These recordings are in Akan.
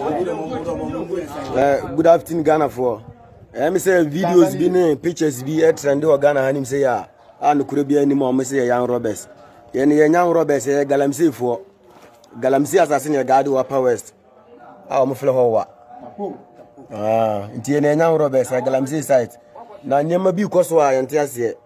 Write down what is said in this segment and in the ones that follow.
Uh, good afternoon, Ghana for. Let me say videos be ne pictures be a trend or Ghana hanim say ya. And could be any more say young robbers. Yen yen young robbers eh galamsey for. Galamsey assassin ya guard wa power west. Ah, mo fle ho wa. Ah, nti yen yen young robbers eh galamsey site. Na nyama bi koso a yente ase.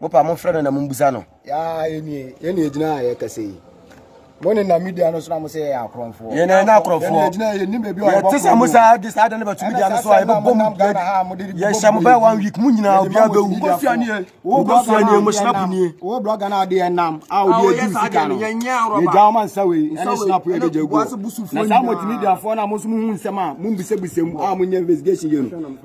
Mopa momfrɛ no na mommisa no. Yaa yɛnie, yɛne ɛgyina a yɛkɛsɛ yi. Mo ne nam dua no so na mo sɛ yɛyɛ akorɔmfoɔ. Yɛn na yɛn akorɔmfoɔ. Yɛn gyina yɛn nim baabi a yɛbɔ sɛ mo saa de saa de ne bɛtumi dua no so a yɛbɛbɔ mu yɛn hyɛ mo bɛyɛ one week mo nyinaa obiara bɛwu. Nkosua nie, wo nkosua nie, mo snap nie. Wo blog na ade yɛn nam a obi adi sika no. Yɛgya wɔn nsa wei ɛne snap yɛ de gya gu. Na saa multimedia foɔ na mo nso mo hu nsɛm a mo mbisabisa mu a mo nyɛ investigation yɛ no.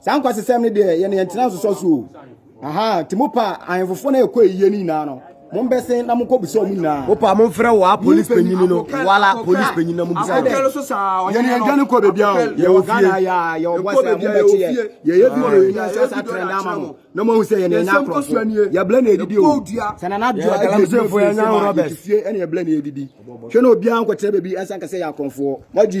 saa nkwasesɛm no deɛ yɛne yɛntena nsosɔ so o aha nti mo pa ahemfofoɔ no ɛkɔ ayie no nyinaa no mombɛse na monkɔbisa ɔmo nyinaa wopa momfrɛ wɔ a police panyini no wala police panyini na mobisa yɛne yɛgya no kɔ babia o yɛwɔ fie yɛyɛ bi no yɛnya sɛ sa trɛnda ama mo na moahu sɛ yɛne yɛnya nkorɔfo yɛblɛ na ɛdidi o sɛ nana doa galamsɛfoɔ yɛnya robert fie ɛne yɛblɛ na ɛdidi hwɛ na obiaa nkɔkyerɛ baabi ɛnsa nka sɛ yɛ akorɔmfoɔ moagye